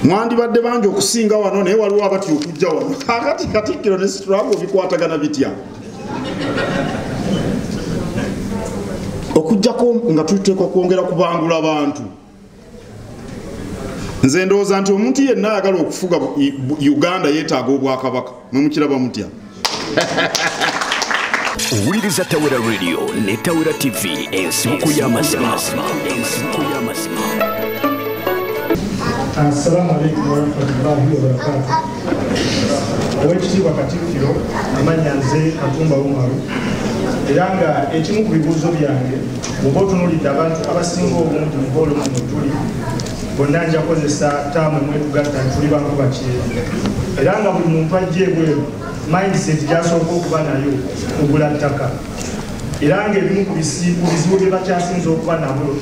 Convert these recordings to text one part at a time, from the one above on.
mwandibadde bangi okusinga wano naye waliwo abatya okujja wano kakati katikkiro ne struggle bikwatagana bitya okujjako nga tuteekwa kwongera kubangula bantu nze ndowooza nti omuntu yenna ayagala okufuga uganda yetaaga obwakabaka mumukiraba mutya owuliriza tawera radio ne tawera tv ensibuko y'amazima assalamu alaikum warahmatullahi wabarakatu owekitiibwa katikkiro amanya nze katumba umaru era nga ekimu ku bibuuzo byange oba otunulidde abantu abasinga obungi mu boolumu mutuli bonna nja kozesa taamu emwetugatta tuli bankuba kyeru era nga buli muntu ajja ebweru mindset gyasooka okuba nayo kugula ttaka era ngaebimu ku bizibu bye bakyasinza okuba nabo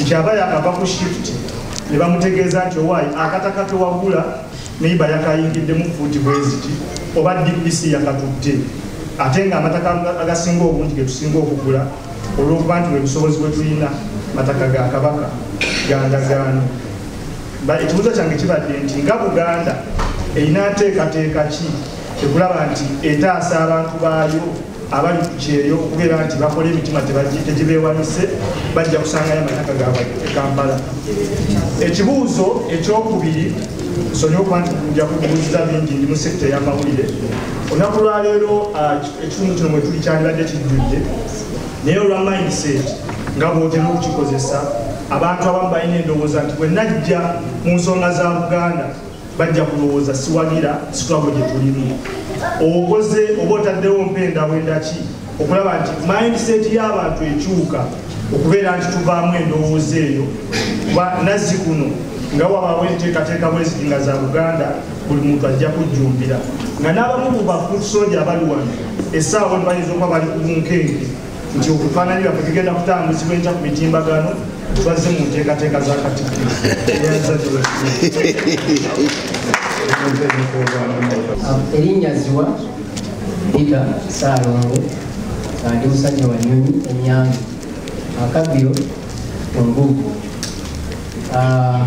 nti aba yakava ku shift ne bamutegeeza nti owaayi akataka kewagula neiba yakayingiddemu fuuti bweziti oba dpc yakatutte ate nga amataka agasinga obungi getusinga okugula olw'okuba nti webusobozi bwetulina mataka ga kabaka gandagaano ekibuuzo kyange kibadde nti nga buganda erina nteekateeka ki ekulaba nti etaasa abantu baayo abali ku kyeyo okubeera nti bakola emitima tegibeewanise bajja kusangayo amataka gaabwe e kampala ekibuuzo ekyokubiri sonyiwa okuba nti nja kubuuziza bingi ndi mu sekita ey'amawulire olunaku lwaleero ah, ekitundu kino mwetuli kyandibadde kijjudde naye olwa mindset nga bwotera okukikozesa abantu abamu balina endowooza nti bwe najja mu nsonga za buganda bajja kulowooza siwagira sitwago gye tulimu okoze oba otaddewo mpendawendaki okulaba nti mindset y'abantu ekyuka okubeera nti tuvaamu endowooza eyo nazzi kuno nga wabaawo enteekateeka bweziti nga za buganda buli muntu ajja kujjumbira nga n'abamu ku basoja abali wano essaawa wano bayinza okuba bali ku bunkenke nti okufaananyi baffe tugenda kutambuzibwa enkya ku mitimbagano tubazze mu nteekateeka za katikkiro erinnya ziwa pita saalongo andi musajja wa nyonyi enyange akabbiro engugu Ah,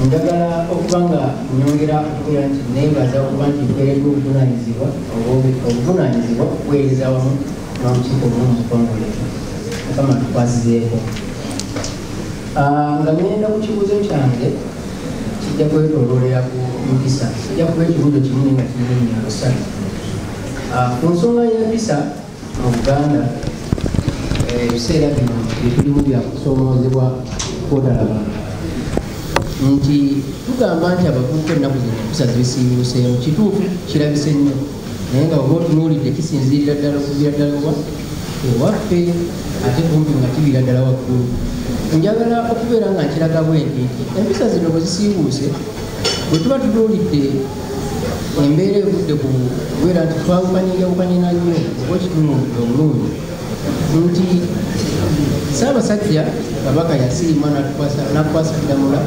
njagala okuba nga nyongera okubeera nti neebaza okuba nti nkuweereddwa obuvunaanyizibwa obwo- obuvunaanyizibwa okuweereza wamu n'olukiiko lumu mu ggwanga mukama tukwasizeeko Ah, nga ngenda ku kibuuzo kyange kijja kwetoloolera ku mpisa kijja kuba ekibuuzo kimu naye nga kirimu nyansa Ah, ku nsonga y'empisa mu buganda eh, ebiseera bino etulimu byakusoomoozebwa kwotalaba nti tugamba nti abavubuka ennaku zino empisa zibisiibuuseemu kituufu kirabise nnyo naye nga oba otunuulidde kisinziirira ddala okuvira ddala wa ewaffe ate kumpi nga kibira ddala waggulu njagala okubeera nga nkiraga bwenti nti empisa zino bwe zisiibuuse bwe tuba tunuulidde embeera evudde ku kubeera nti twawukanyenjawukanye na nnyo oba okitunudde omulungi nti ssaabasajja kabaka yasiima nakukwasa ddamula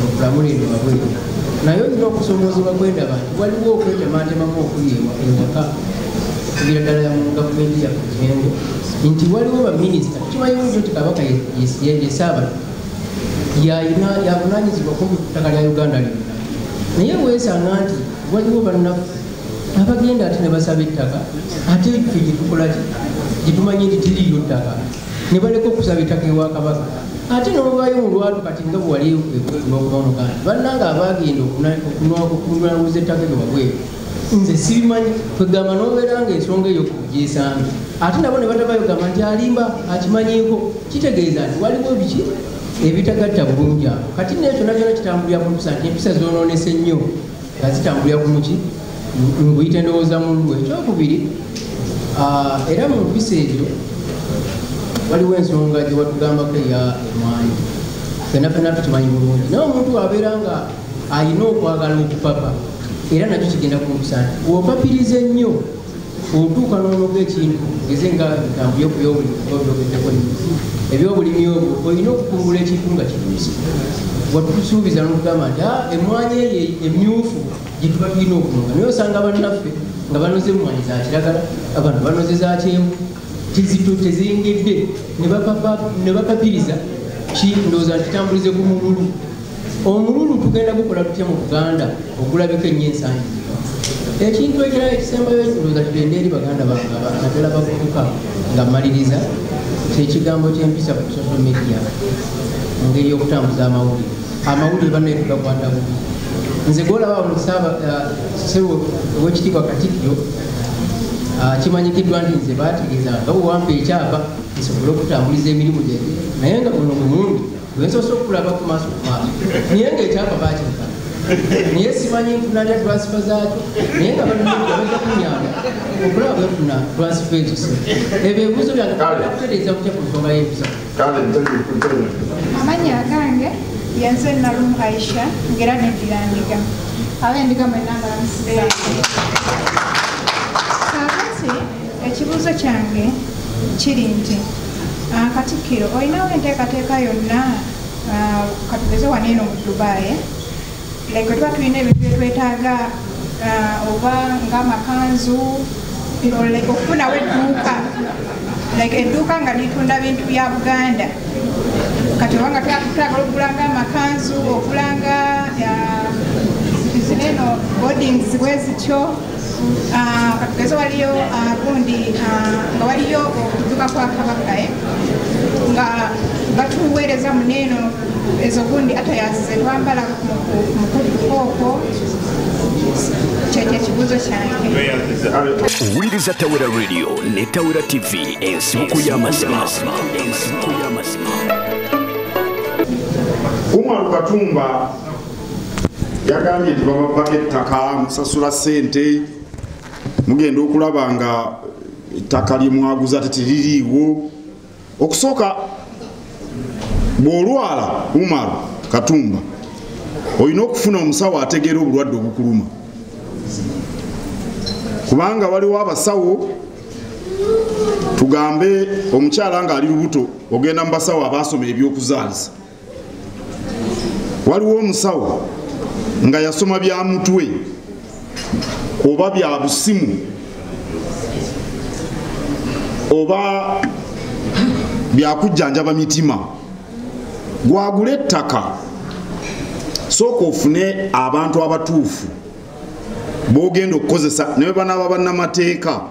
okulamula eno wabweru naye olina okusomoozebwa kwendaba nti waliwo okwetematemamu okuli ewaka okugira ddala ya mu gavumenti yaffe kirengo nti waliwo baminisita kimanyiwo nti kabaka yesaabala yalina yavunanyizibwako mu ttaka lya uganda lyonna naye weesanga nti waliwo bannaku abagenda ate ne basaba ettaka ate ffe gyetukolaki gyetumanyi nti tiriyo ttaka ne baleka okusaba ettaka ewa kabaka ate nobayo mulwatu kati nga bwewaliokubamuganda bannanga abagenda okunwakuza ettaka lyo wabweru nze sibimanyi kwegamba nobeera nga ensonga eyo kugyesanga ate nabo ne batabayo gamba nti alimba akimanyiko kitegeeza nti waliwo biki ebitagatta bulungi awo kati naye kyona kyona kitambulira ku mpisa nti empisa zonoonese nnyo nga zitambulira ku muki nkuyita endowooza mu lulu ekyokubiri ah, era mu mpisa ebyo waliwo ensonga gye watugambako eya emwanyi fena fena tukimanyi bulungi naye omuntu abeera nga alina okwagala okupapa era nakyo kigenda ku mpisa nti wopapiriza ennyo otuuka n'onoga ekintu eze nga bitambo yokubyobulimi obyogeddeko nnyingi ebyobulimi obwo olina okukungula ekintu nga kinyusi watusuubiza nokugamba nti ah, emwanyi eyo emyufu gyetuba tulina okunoga naye osanga bannaffe nga banoze emwanyi za kiragala abantu banoze za kyenvu tizito teziyingidde ne bapapiriza ki ndowooza ntitambulize ku mululu omululu tugenda gukola tutya mu buganda ogulabika ennyo ensangi ekintu ekirala ekisembayo ekirowooza tugende eri baganda bange naddala bavubuka nga mmaliriza kyekigambo kyempisa ku social media mu ngeri y'okutambuza amawulire amawulire bannaye tugakwata bubi nze gwolaba musaaba uh, sewo owekitiibwa katikkiro uh, kimanyikiddwa nti nze baategeeza nga wewampa ekyapa nsobole okutambuliza emirimu gye naye nga buno mumundi Wensoose okulaba ku maaso ku maaso naye ng'ekyapa baakireka naye simanyi nfuna nya transifa zaakyo naye nga baja kunyamba okulaba bwefuna transifa ezo se ebyo ebibuzo byankutereeza kutya ku nsonga y'empisa amannya agange yenze nalumu aisha ngera neddira ndiga abe ndiga mwenna mbalamusiza ekibuuzo kyange kiri nti ah, katikkiro olinawo enteekateeka yonna ah, katugeze wano eno mu dubai like tuba tulina ebintu byetwetaaga ah, oba ngaamakanzu okufunawo edduuka like edduuka nga litunda bintu bya buganda kati obanga twagala okugulanga amakanzu okulanga zineno bodings bwezityo Ah, katugeze waliyo ah, gundi ah, nga waliyo okuduka kwa kabaka eh, nga batuweereza muneeno ezo gundi atayazize twambala mukudukooko owuliriza tawera radio ne tawera tv ensibuko y'amazima umar katumba yagambye nti babavako ettaka musasula sente mugenda okulaba nga ettaka lyemwaguza tetiririiwo okusooka bwolwala umar katumba olina okufuna omusawo ategeera obulwadde obukuluma kubanga waliwo abasawo tugambe omukyala nga ali lubuto ogenda mu basawo abaasoma ebyokuzaalisa waliwo omusawo nga yasoma bya mutwe oba bya busimu oba byakujjanjaba mitima gwagula ettaka sooka ofune abantu abatuufu bogenda okukozesa nebwebanaaba bannamateeka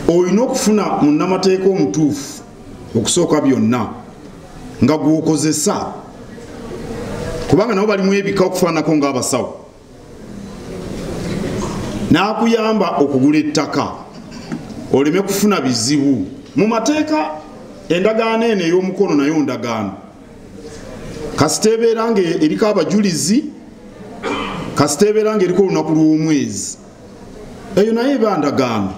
olina okufuna munnamateeka omutuufu okusooka byonna nga gwokozesa kubanga nabo balimu ebika okufaananako ngaabasawo n'akuyamba okugula ettaka oleme kufuna bizibu mu mateeka endagaano eno ey'omukono nayo ndagaano kasita ebeera nga eriko abajulizi kasita ebeera nga eriko olunaku lw'omwezi eyo naye eba ndagaano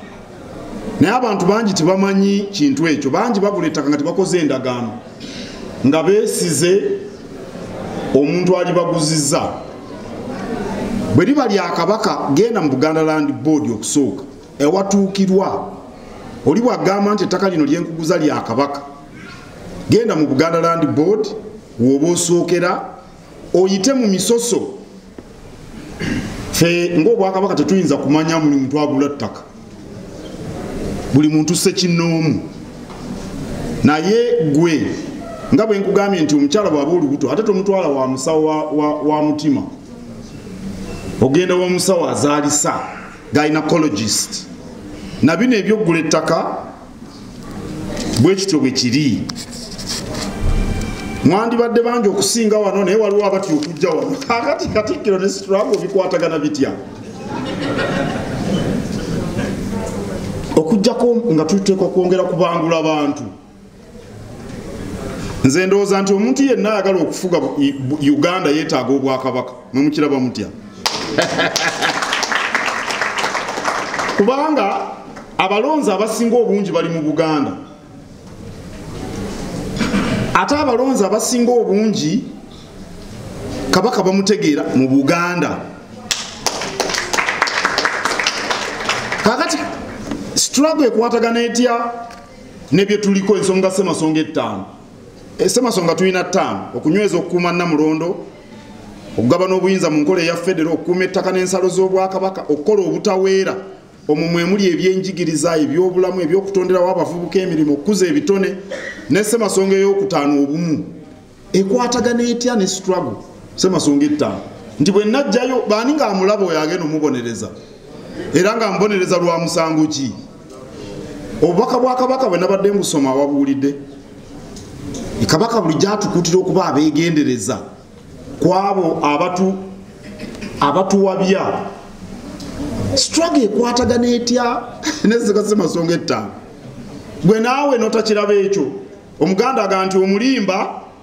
naye abantu bangi tebamanyi kintu ekyo bangi bagula ettaka nga tebakoze endagaano nga besize omuntu alibaguziza bwe liba lya kabaka genda mu buganda land board okusooka ewatuukirwa oli bwagamba nti ettaka lino lyenkuguza lya kabaka genda mu buganda land board woba osookera oyite mu misoso fe ngaobwakabaka tetuyinza kumanya buli muntu agula ttaka buli muntu sekinoomu naye gwe nga bwe nkugambye nti omukyala bwaba olubuto ate tomutwala wa musawo wa, wa, wa mutima ogenda wa musawo azaalisa gynecologist na bino ebyokugula ettaka bwe kityo bwe kiri mwandibadde bangi okusinga wano naye waliwo abatya okujja wano kakati katikkiro ne sitrago bikwatagana bitya okujjako nga tuteekwa kwongera kubangula bantu nze ndowooza nti omuntu yenna ayagala okufuga uganda yeetaaga obwakabaka mumukiraba mutya kubanga abalonzi abasinga obungi bali mu buganda ate abalonzi abasinga obungi kabaka bamutegeera mu buganda kakati struggle ekwatagana etya nebyetuliko ensonga semasonga ettaano eh, semasonga tulina ttaano okunyweza okukuuma namulondo okugabana obuyinza mu nkola eya federo okukuuma ettaka n'ensalo z'obwakabaka okukola obutaweera omwo mwe muli ebyenjigiriza ebyobulamu ebyokutonderawo abavubuka emirimu okukuza ebitone ne ssemasonga ey'okutaano obumu ekwatagana etya ne struggle ssemasonga ettaano nti bwe najjayo baani ng'amulaba oyo agenda omubonereza era ng'amubonereza lwa musango ki obubaka bwa kabaka bwe nabadde mbusoma wabuwulidde kabaka buli gyatukuutira okuba abeegendereza ku abo abatu abatuwabya straga ekwatagana etya nezikasemasonga ettaano gwe naawe notakiraba ekyo omuganda aga nti omulimba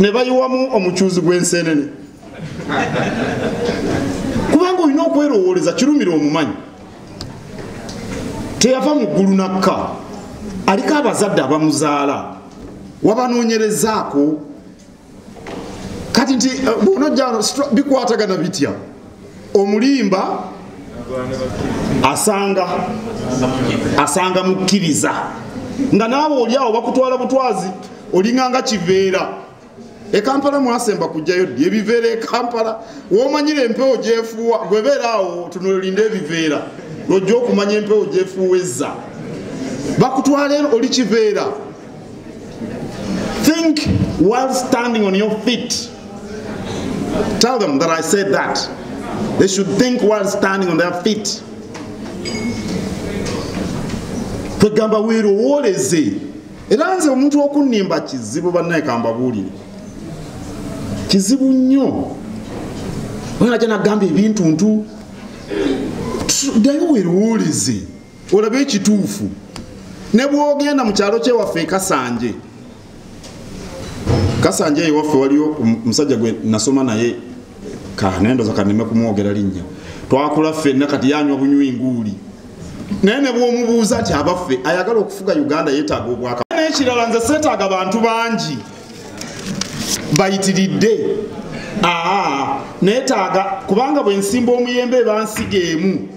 ne bayiwamu omucuuzi gw'enseenene kubanga olina okwerowooleza kirumira omumanyi teyava mu ggulu nakka aliko abazadde abamuzaala wabanoonyerezaako kati nti eh, bwonojjano bikwatagana bitya omulimba asanga asanga mukkiriza nga naawe oli awo bakutwala butwazi olinganga kiveera ekampala mwasemba kujjayo ddi ebiveera ekampala womanyira empewo gyefuuwa gwebeera awo tunolinde ebiveera lwojja okumanya empewo gyefuuwezza bakutwala oli kiveera Think while standing on your feet. Tell them that I said that. They should think while standing on their feet. Tegamba weerowooleze era nze omuntu okunnimba kizibu bannaye kambabuulire kizibu nnyo oyina gyanagamba ebintu ntu ddayo weerowooleze olaba ekituufu ne bwogenda mu kyalo kyewaffe ekasanje kasanje ewaffe waliyo omusajja gwe nasoma naye kanendoza kaneme kumwogera linnya twakula ffenna kati yanywa bunywi nguuli naye ne bwomubuuza nti abaffe ayagala okufuga uganda yetaaga obwaka n'ekirala nze seetaaga bantu bangi bayitiridde aa neetaaga kubanga bwe nsimba omuyembe ebansiga emu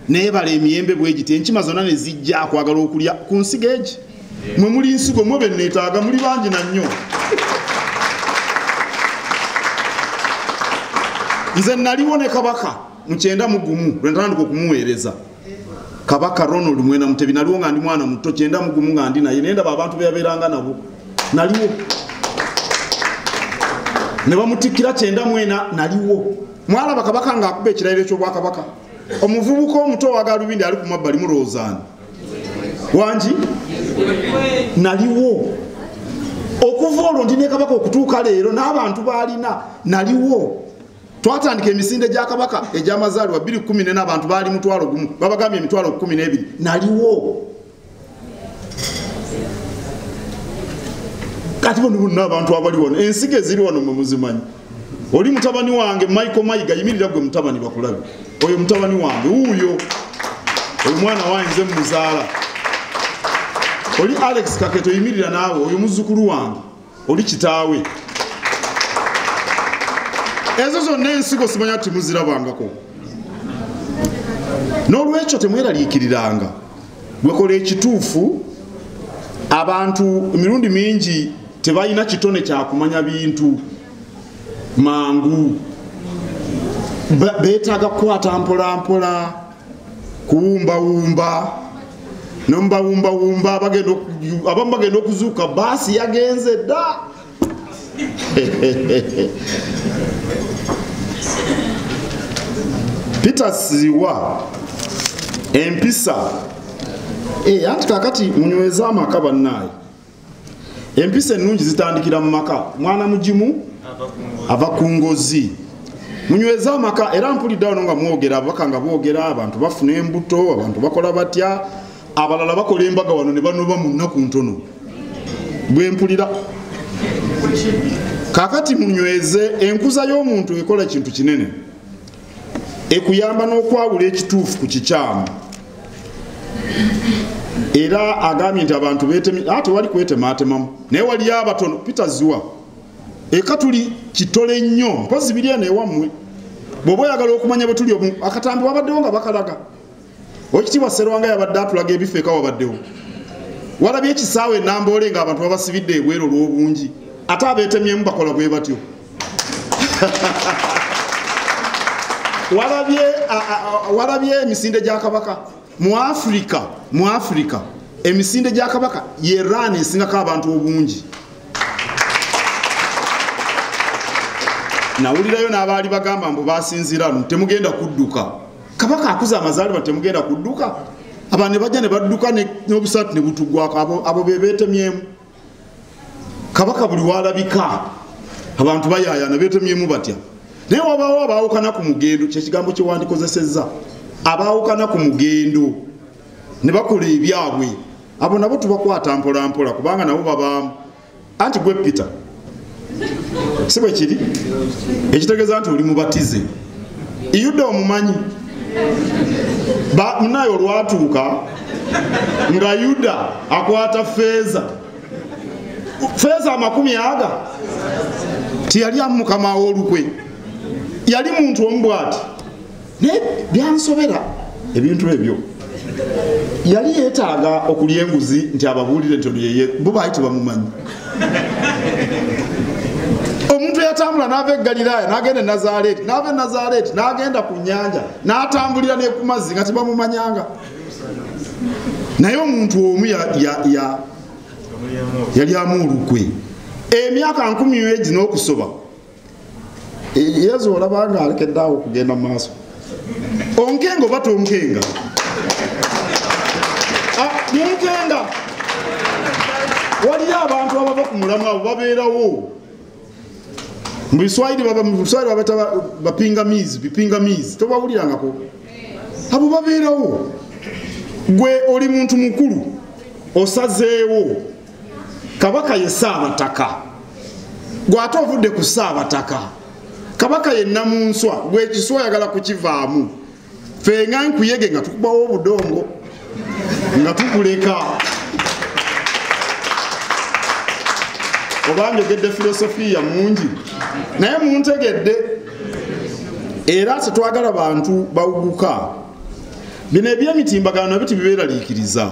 naye bala emiyembe bwegiti enkima zonna ne zijja akwagala okulya ku nsigo egi mwe muli nsigo mwe benneetaaga muli bangi na nnyo nze naliwo ne kabaka mukyenda mugumu lwenatandika okumuweereza kabaka ronald mwena mutebi naliwo nga ndi mwana muto kyenda mugumu nga ndi naye naye ndaba abantu beyabeeranga nabo naliwo ne bamutikkira kyenda mwena naliwo mwalaba kabaka ng'akuba ekirayiro ky'obwakabaka omuvubuka omuto owagalubindi ali ku mabbali mulowoozaani wangi naliwo okuva olwo ndi nekabaka okutuuka leero n'abantu baalina naliwo twatandika emisinde gya kabaka egy'amazaalibwa 214 abantu baali mutwalo gumu babagambye emitwalo 12 naliwo kati bano bonna abantu abali wano ensiga eziri wano mwe muzimanyi oli mutabani wange michael mayiga yimirira gwe mutabani bakulabe oyo mutabani wange wuuyo oyo mwana wange nze muzaala oli alex kaketo yimirira naawe oyo muzzukulu wange oli kitaawe ezo zonna ensigo simanya ti muzirabangako n'olwekyo temweraliikiriranga gwekola ekituufu abantu emirundi mingi tebalina kitone kyakumanya bintu mangu beetaaga kukwata mpolampola kuwumbawumba nomubawumbawumba abamu bagenda okuzuuka baasi yagenze dda peter siwa empisa eh, anti kakati munyweza amaka bannaayo empisa ennungi zitandikira mu maka mwana mugimu ava ku ngozi munyweze amaka era mpulidde wano nga mwogera ababaka nga boogera abantu bafuna embuto abantu bakola batya abalala bakola embaga wano ne banoba mu nnaku ntono bwe mpulira kakati munyweze enkuza y'omuntu ekola kintu kinene ekuyamba n'okwawula ekituufu ku kikyamu era agambye nti abantu ah, tewali kwetemaatemamu naye waliyo abatono peter ziwa eka tuli kitole nnyo mpozi biri eno ewammwe bw'oba oyagala okumanya bwe tuli akatambi wabaddewo nga bakalaga Oweekitiibwa Sserwanga yabadde atulaga ebifo eka wabaddewo walabye ekisaawe enamboole nga abantu babasibidde ebweru olw'obungi ate abeetemyemu bakola bwe batyo walabye emisinde gya kabaka mu afirika mu afirika emisinde gya kabaka ye ran esingako abantu obungi nawulirayo n'abaali bagamba mbu basinzira nu temugenda kudduka kabaka akuze amazaalibwa temugenda kudduka abantu ne bajja ne badduka n'obusaati ne butugwako abo be beetemyemu kabaka buli walabika abantu bayaayana beetemyemu batya naye wabaawo abaawukana ku mugendo kyekigambo kyewandikozesezza abaawukana ku mugendo ne bakola ebyabwe abo nabo tubakwata mpolampola kubanga nabo babaamu anti gwe peter si bwe kiri ekitegeeza nti oli mubatize yuda omumanyi munaye olwatuuka nga yuda akwata feeza feeza amakumi aga tiyali amu mukama w'olukwe yali muntu omu bwati naye byansobera ebintu ebyo yali yetaaga okulya enguzi nti ababuulire nti olyeye bo baali tebamumanyi omuntu eyatambula naava egaliraaya nagenda enazareeti naava enazareeti nagenda ku nyanja natambulira nekumazzi nga tebamumanyanga naye omuntu omu yalyamu olukwe emyaka nkumi egi n'okusoba yesu olaba nga alekedde awo okugenda mu maaso onkenga oba tonkenga yenkenga ah, waliyo abantu abava ku mulamu abo babeerawo mu biswayiri babiswayiri babata bapingamizi bipingamizi tobawulirangako abo babeerawo gwe oli muntu mukulu osazeewo kabaka ye saabataka gwate ovudde ku saabataka kabaka ye namunswa gwekiswa oyagala kukivaamu fenga nkuyege nga tukubawo obudongo nga tukuleka oba njogedde filosofiya mungi naye muntegedde era tetwagala bantu bawuguka bino ebyemitimbagano nabyo tibibeeraliikiriza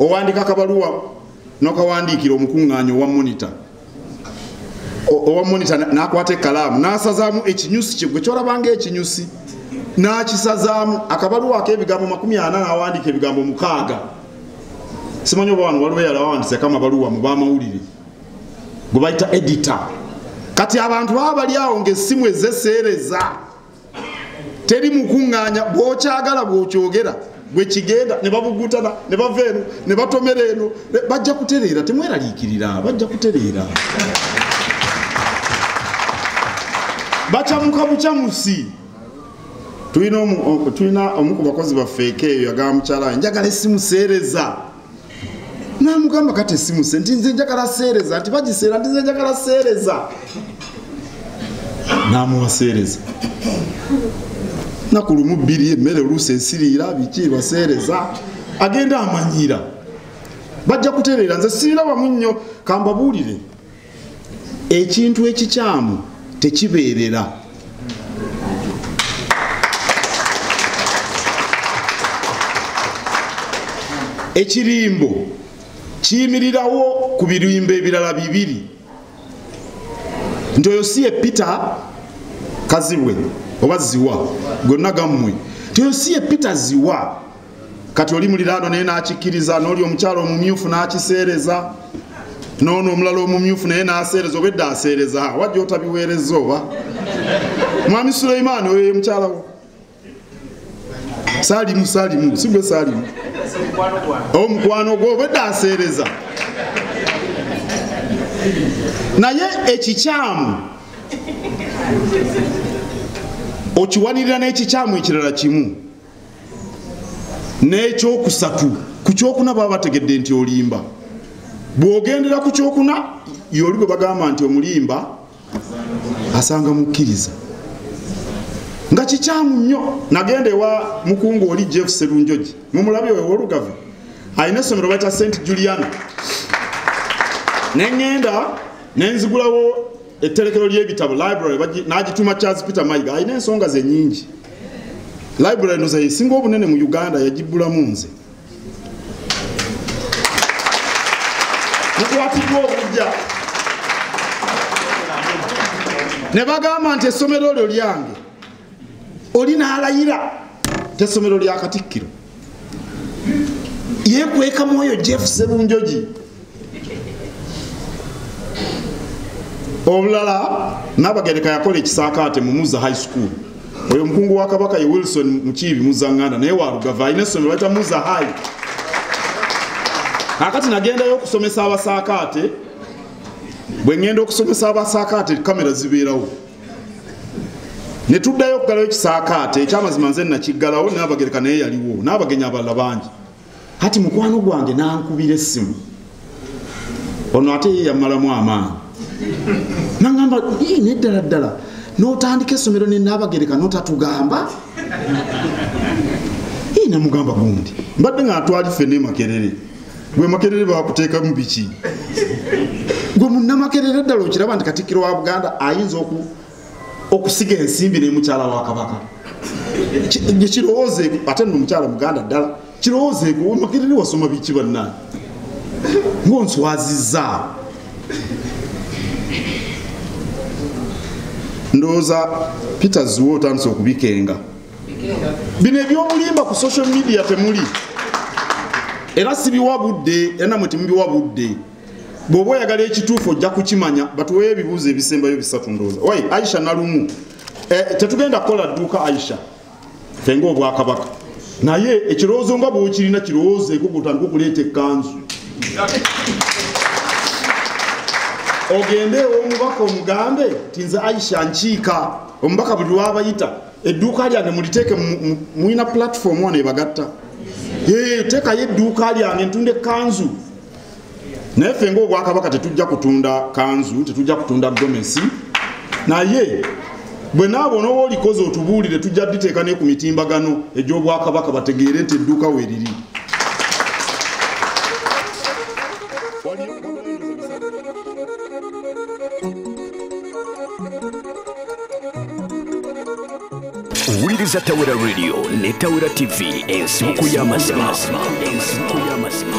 owandika kabaluwa nokawandiikira omukuŋŋaanya owa monita owa monita nakwata ekalaamu nasazaamu ekinyusi kye gwe kyolabanga ekinyusi nakisazaamu akabaluwa akebigambo makumi ana nawandiika ebigambo mukaaga simanyi oba wano waliwo yalawandiseko amabaluwa mu bamawulire gwe bayita edita kati abantu baba bali awo ngaessimu ezeseereza teri mukuŋŋaanya bwokyagala bwokyogera bwekigenda ne babugutana ne bava eno ne batomera eno bajja kutereera temweraliikirira bajja kutereera bakyamuka bukyamusi tulina omu ku bakozi baffeeko eyo yagamba mukyala we njagala esimu seereza namugamba kati esimu se nti nze njagala seereza nti bagiseera nti nze njagala seereza namuwa seereza naku lumu bbiri emmere oluusi ensiriira biki baseereza agenda amanyiira bajja kutereera nze siirabamu nnyo kambabuulire ekintu ekikyamu tekibeerera ekirimbo kiyimirirawo ku birimbo ebirala bibiri nti oyo si ye peter kazibwe oba ziwa gonna gammwe nti oyo si ye peter ziwa kati oli muliraano naye n'akikkiriza n'oli omukyalo omumyufu n'akiseereza noono omulala omumyufu naye n'aseereza oba edda aseereza wajja otabiweereza oba mwami suleimaani oyo ye mukyalawo salimu salimu sigwe salimu omukwano gwo oba edda aseereza naye ekikyamu okiwanirira n'ekikyamu ekirala kimu n'ekyokusatu ku kyokuna baba bategedde nti olimba bw'ogendera ku kyokuna yoli bwe bagamba nti omulimba asanga mukkiriza nga kikyamu nnyo nagenda ewa mukungu oli jeff serunjogi mumulabi oyo wolugavu alina essomero bakya st juliana neŋŋenda nenzigulawo etterekero ly'ebitabo library n'agituma charles peter mayiga alina ensonga ze nyingi library noza yesinga obunene mu uganda yagibbulamu nze mukwatiddwa obujja ne bagamba nti essomero lyo lyange oli nalayira tesomero lya katikkiro yekweka mwoyo jeff serunjoji obulala nabagereka yakola ekisaakaate mumuza high school oyo omukungu wa kabaka ye wilson mukiibi muzanganda naye walugava alina essomero baita muza high akati nagendayo okusomesa abasaakaate bwe ŋŋenda okusomesa abasaakaate kamera zibeerawo ne tuddayo okugalawo ekisaakaate ekyamazima nze nakiggalawo nabagereka naye yaliwo n'abagenyi abalala bangi kati mukwano gwange nankubira essimu ono ate ye yamalamu amaanyi nagamba neddala ddala notandika essomero nenabagereka notatugamba namugamba gundi mbadde nga atwali ffe nemakerere gwe makerere bakuteekamu biki gwe munnamakerere ddala okiraba nti katikkiro wa buganda ayinza okusiga ensimbi nemukyala wa kabaka kirowoozeeko ate no omukyala muganda ddala kirowoozeeko makerere wasoma biki banna ngaonswaziza ndowooza peter ziwa otandise okubikenga bino ebyobulimba ku social media temuli era sibiwa budde era namwe temubiwa budde bwoba oyagala ekituufu ojja kukimanya batuweyo ebibuuzo ebisembayo bisatu ndooza wai aisha nalumu eh, tetugenda kukola dduuka aisha fenga obwakabaka naye ekirowoozo nga bwokirina kirowoozo ekugutandika okuleeta ekkanzu ogende omubaka omugambe tinze aisha nkiika omubaka buli lwabayita edduuka lyange muliteeke mulina platform wano ebagatta teekayo edduuka lyange ntunda ekanzu naye ffe ngaobwakabaka tetujja kutunda kanzu tetujja kutunda gomesi naye bwe naabo nooba olikoze otubuulire tujja diteeka ne ku mitimbagano egy'obwakabaka bategeere nti edduuka weriri wuliriza tawera radio ne tawera tv ensibuko y'amazima ensibuko y'amazima